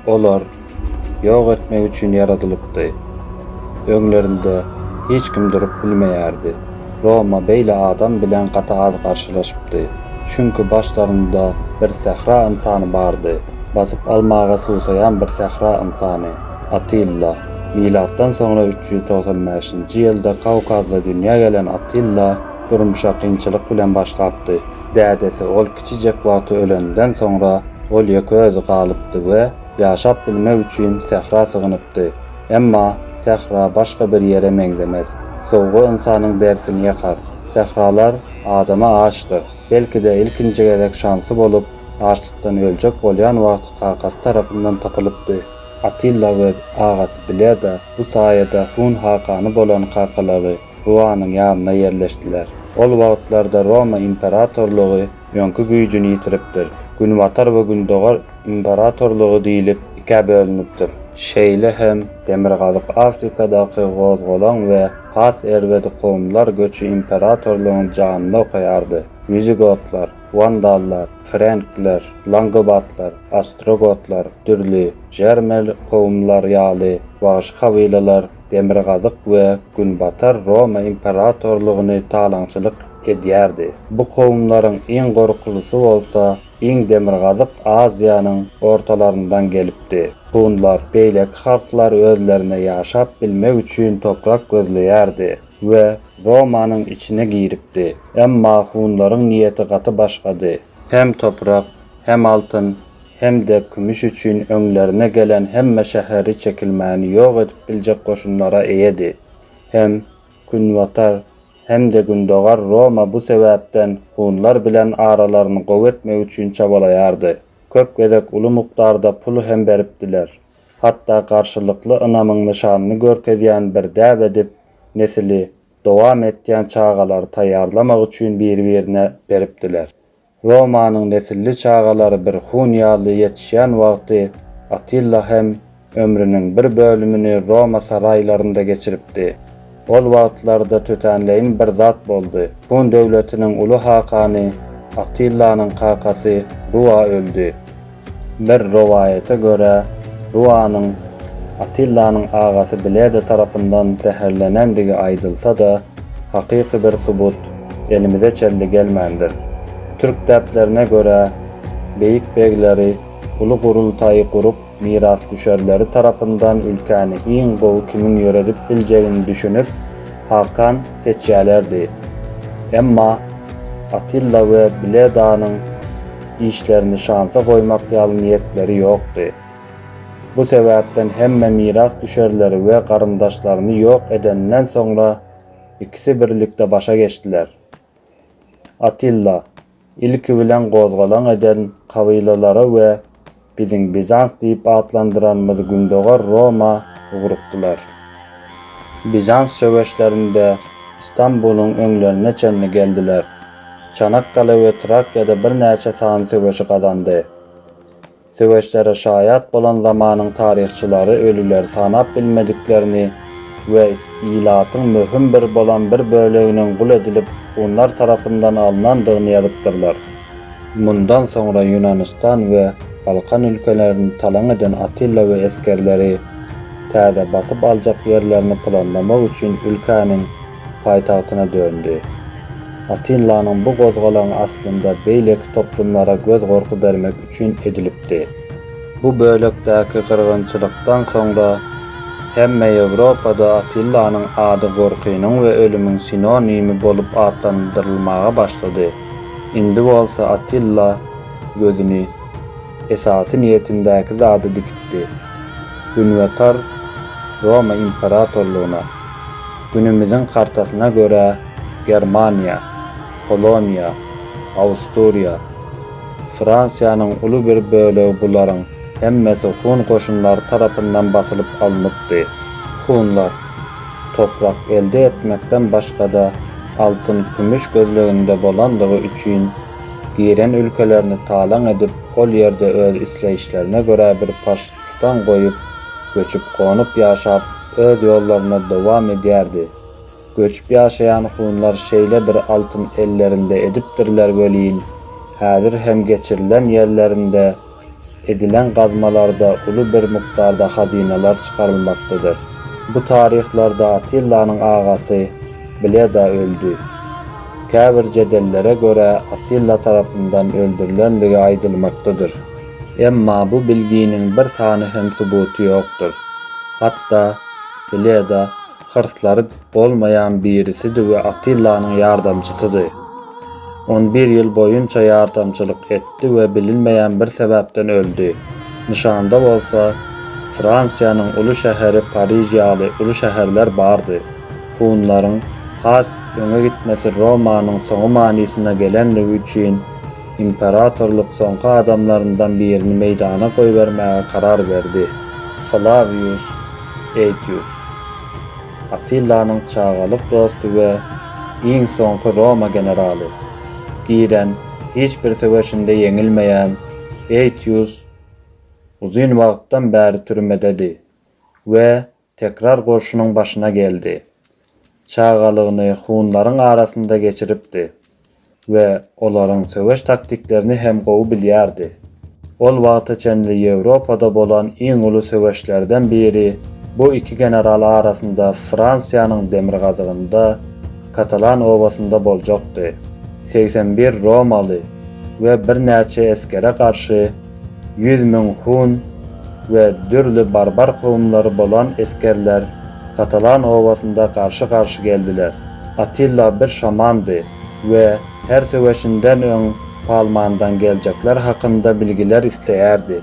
Olar ýok etmek üçin ýaradylypdy. Öňlerinde hiç kim durup bilmeýärdi. Roma beýle adam bilen gaty az garşylaşypdy. Çünki başlarynda bir sähra ynsany bardy, basyp almaga suwsaýan bir sähra ynsany, Attilla. Milatdan soňra üç ýüz togsan bäşinji ýylda Kawkazda dünýä gelen Attilla durmuşa kynçylyk bilen başlapdy. Dädesi ol kiçijek wagty ölenden soňra ol ýeke özi galypdy we ýaşap bilmek üçin sähra sygynypdy. Emma, sähra başga bir ýere meňzemez. Sowga ynsanyň dersini ýakar. Sähralar adama açdyr. Belki-de, ilkinji gezek şansy bolup, açlykdan öljek bolýan wagty kakasy tarapyndan tapylypdy. Atilla we agasy Bleda bu saýada hun hakany bolan kakalary Ruanyň ýanyna ýerleşdiler. Ol wagtlarda Roma imperatorlygy öňki güýjüni ýitiripdir. Günbatar we Gündogar imperatorlygy diýlip ikä bölünipdir. Şeýle hem Demirgazyk Afrikadaky gozgalaň we has erbedi kowumlar göçi imperatorlygyň janyny okaýardy. Wizigotlar, wandallar, frenkler, langobatlar, ostrogotlar, dürli, jermel, kowumlar ýaly wagşy kabylalar Demirgazyk we Günbatar Roma imperatorlygyny talaňçylyk edýärdi. Bu kowumlaryň iň gorkulusy bolsa iň demirgazyk Aziýanyň ortalaryndan gelipdi. Hunlar beýleki halklar özlerine ýaşap bilmek üçin toprak gözleýärdi we Romanyň içine giripdi. Emma hunlaryň niýeti gaty başgady. Hem toprak, hem altyn, hem-de kümüş üçin öňlerine gelen hemme şäheri çekilmäni ýok edip biljek goşunlara eýedi. Hem Günbatar, hem-de Gündogar Roma bu sebäpden hunlar bilen aralaryny gowy etmek üçin çabalaýardy. Köp gezek uly mukdarda pul hem beripdiler. Hatda garşylykly ynamyň nyşanyny görkezýän bir däp edip, nesili dowam etýän çagalary taýýarlamak üçin biri-birine beripdiler. Romanyň nesilli çagalary bir hun ýaly ýetişýän wagty Atilla hem ömrüniň bir bölümini Roma saraýlarynda geçiripdi. Ol wagtlarda tötänleýin bir zat boldy. Hun döwletiniň uly hakany Attillanyň kakasy Rua öldi. Bir rowaýata görä, Ruanyň Atillanyň agasy Bleda tarapyndan zäherlenendigi aýdylsa-da, hakyky bir subut elimize çenli gelmändir. Türk däplerine görä, beýik begleri uly gurultaýy gurup, mirasdüşerleri tarapyndan ülkäni iň gowy kimiň ýöredip biljegini düşünip, hakan seçýälerdi. Emma Atilla we Bledanyň. işlerini şansa goýmak ýaly niýetleri ýokdy. Bu sebäpden hemme mirasdüşerleri we garyndaşlaryny ýok edenden soňra ikisi birlikde başa geçdiler. Atilla, ilki bilen gozgalaň eden kabylalara we Biziň Bizans diýip atlandyranymyz Gündogar Roma ugrukdylar. Bizans söweşlerinde Stambulyň öňlerine çenli geldiler. Çanakkale we Trakyýada birnäçe sany söweşi gazandy. Söweşlere şaýat bolan zamanyň taryhçylary ölüleri sanap bilmediklerini we ilatyň möhüm bir bolan bir böleginiň gul edilip hunlar tarapyndan alynandygyny ýazypdyrlar. Mundan soňra Ýunanistan we Balkan ülkelerini talaň eden Atilla we esgerleri täze basyp aljak ýerlerini planlamak üçin ülkäniň paýtagtyna döndi. Atillanyň bu gozgalaňy aslynda beýleki toplumlara göz gorky bermek üçin edilipdi. Bu bölekdäki gyrgynçylykdan soňra hemme Ýewropada Atillanyň ady gorkynyň we ölümiň sinonimi bolup atlandyrylmaga başlady. Indi bolsa Atilla gözüni esasy niýetindäki zada dikipdi. Günbatar Roma imperatorlygyna, günümiziň kartasyna görä Germaniýa, Poloniýa, Awsturiýa, Fransiýanyň uly bir bölegi bularyň hemmesi hun goşunlary tarapyndan basylyp alnypdy. Hunlar, toprak elde etmekden başga-da altyn-kümüş gözleginde bolandygy üçin, giren ülkelerini talaň edip, ol ýerde öz isleýişlerine görä bir parç tutan goýup, göçüp-gonup ýaşap, öz ýollaryny dowam edýärdi. Göçüp ýaşaýan hunlar şeýle bir altyn ellerinde edipdirler welin, häzir hem geçirilen ýerlerinde, Edilen gazmalarda uly bir mukdarda hazynalar çykarylmakdadyr. Bu taryhlarda Atillanyň agasy Bleda öldi. Käbir jedellere görä Atilla tarapyndan öldürilendigi aýdylmakdadyr. Emma bu bilginiň bir sany hem subuty ýokdur. Hatda Bleda Hyrslary bolmaýan birisidi we Atillanyň ýardamçysydy. On bir ýyl boýunça ýardamçylyk etdi we bilinmeýän bir sebäpden öldi. Nyşanda bolsa, Fransiýanyň uly şäheri Pariž ýaly uly şäherler bardy. Hunlaryň has öňe gitmesi Romanyň soňy manysyna gelenligi üçin, imperatorlyk soňky adamlaryndan birini meýdana goýbermäge karar berdi. Flawius Aetius. Attillanyň çagalyk dosty we iň soňky Roma generaly. Giren hiç bir söweşinde ýeňilmeýän Aetius uzyn wagtdan bäri türmededi we tekrar goşunyň başyna geldi. Çagalygyny hunlaryň arasynda geçiripdi. we olaryň söweş taktiklerini hem gowy bilýärdi. Ol wagta çenli Ýewropada bolan iň uly söweşlerden biri bu iki general arasynda Fransiýanyň demirgazygynda, Katalan obasynda boljakdy. Segsen bir romaly we birnäçe esgere garşy ýüz müň hun we dürli barbar kowumlary bolan esgerler Katalan obasynda garşy-garşy geldiler. Attila bir şamandy we her söweşinden öň Palmandan geljekler hakynda bilgiler isleýärdi.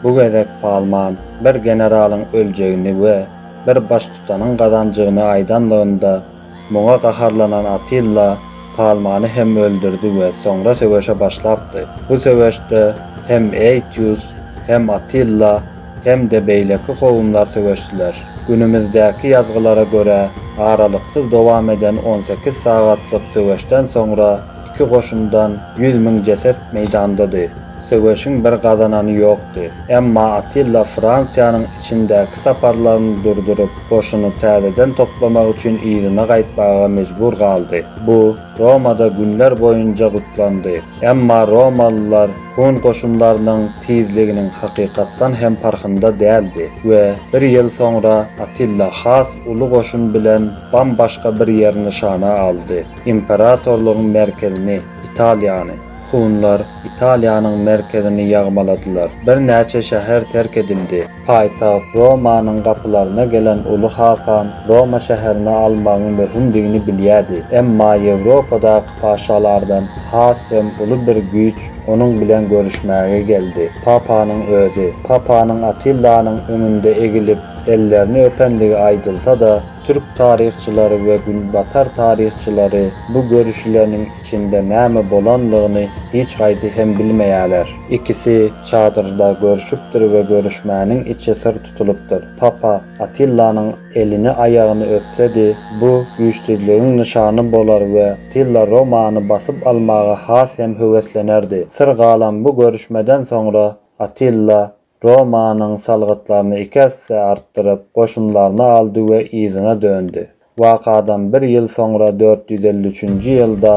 Bu gezek Palman bir generalyň öljegini we bir baştutanyň gazanjygyny aýdanlygynda Muňa gaharlanan Atilla Palmany hem öldürdi we soňra söweşe başlapdy. Bu söweşde hem Aetius, hem Atilla, hem-de beýleki kowumlar söweşdiler. Günümizdäki ýazgylara görä, aralyksyz dowam eden on sekiz sagatlyk söweşden soňra iki goşundan ýüz müň jeset meýdandady. Söweşiň bir gazanany ýokdy. Emma Atilla Fransiýanyň içindäki saparlaryny durduryp, goşuny täzeden toplamak üçin yzyna gaýtmaga mejbur galdy. Bu, Romada günler boýunja gutlandy. Emma romalylar hun goşunlarynyň tizliginiň hakykatdan hem parhynda däldi we bir ýyl soňra Atilla has uly goşun bilen bam-başga bir ýeri nyşana aldy, imperatorlygyň merkezini, Italiýany. Hunlar Italiýanyň merkezini ýagmaladylar. Birnäçe şäher terk edildi. Paýtagt Romanyň gapylaryna gelen Uly hakan Roma şäherini almagyň möhümdigini bilýärdi. Emma Ýewropadaky paşalardan has hem uly bir güýç onuň bilen görüşmäge geldi, papanyň özi. Papanyň Atillanyň öňünde egilip, ellerini öpendigi aýdylsa-da, türk taryhçylary we günbatar taryhçylary bu görüşileniň Içinde näme bolandygyny hiç haýsy hem bilmeýärler. Ikisi çadyrda görşüpdir we görüşmäniň içi syr tutulypdyr. Papa Atillanyň elini-aýagyny öpsedi, bu güýçsüzligiň nyşany bolar we Attilla Romany basyp almaga has hem höweslenerdi. Syr galan bu görüşmeden soňra Attilla Romanyň salgytlaryny iki esse artdyryp, goşunlaryny aldy we yzyna döndi. Wakadan bir ýyl soňra dört ýüz elli üçünji ýylda,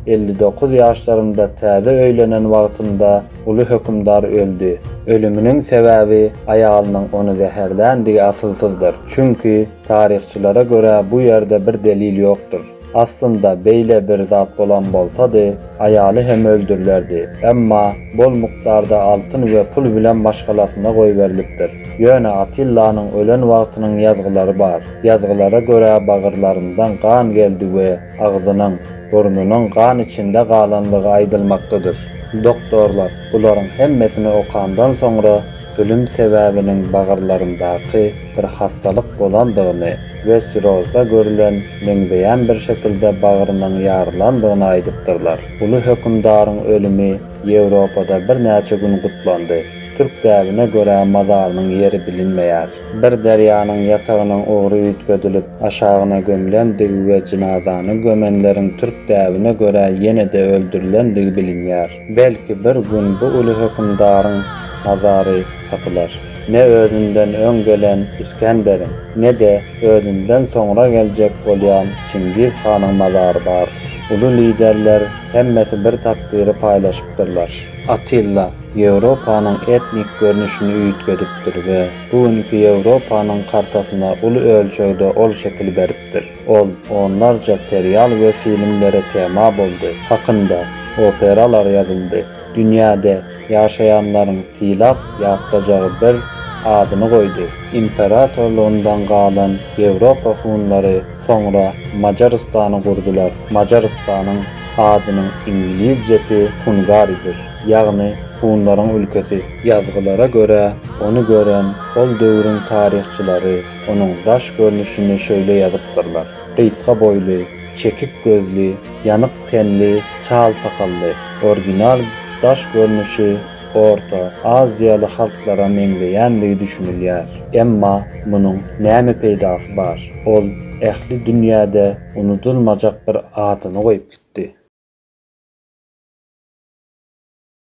elli dokuz ýaşlarynda täze öýlenen wagtynda uly hökümdar öldi. Ölüminiň sebäbi aýalynyň ony zäherländigi asylsyzdyr. Çünki, taryhçylara görä bu ýerde bir delil ýokdur. Aslynda beýle bir zat bolan bolsady, aýaly hem öldürilerdi. Emma bol mukdarda altyn we pul bilen maşgalasyna goýberilipdir. Ýöne Atillanyň ölen wagtynyň ýazgylary bar. Ýazgylara görä bagyrlaryndan gan geldi we agzynyň, burnunyň gan içinde galanlygy aýdylmakdadyr. Doktorlar bularyň hemmesini okandan soňra ölüm sebäbiniň bagyrlaryndaky bir hassalyk bolandygyny, Westirosda görülen meňzeýän bir şekilde bagrynyň ýarylandygyny aýdypdyrlar. Uly hökümdaryň ölümi Ýewropada birnäçe gün gutlandy. Türk däbine görä mazarynyň ýeri bilinmeýär. Bir derýanyň ýatagynyň ugry üýtgedilip, aşagyna gömlendigi we jynazany gömenleriň türk däbine görä ýene-de öldürilendigi bilinýär. Belki bir gün bu uly hökümdaryň mazary tapylar. Ne özünden öň gelen Isgenderiň, ne-de özünden soňra geljek bolýan Çingiz hanyň mazary bar. Uly liderler hemmesi bir takdyry paýlaşypdyrlar. Atilla Ýewropanyň etnik görnüşini üýtgedipdir we bu günki Ýewropanyň kartasyna uly ölçegde ol şekil beripdir. Ol onlarça serial we filmlere tema boldy, hakynda operalar ýazyldy, dünýäde ýaşaýanlaryň sylap ýatlajagy bir adyny goýdy. Imperatorlygyndan galan Ýewropa hunlary soňra Majarystany gurdular. Majarystanyň adynyň iňlizcesi Hungaridir, ýagny hunlaryň ülkesi. Ýazgylara görä, ony gören ol döwrüň taryhçylary onuň daş görnüşini şöýle ýazypdyrlar, gysga boýly, çekik gözli, ýanyk tenli, çal sakally. Orginal daş görnüşi orta aziýaly halklara meňzeýänligi düşünilýär. Emma munuň näme peýdasy bar? Ol ähli dünýäde unudylmajak bir adyny goýup gitdi.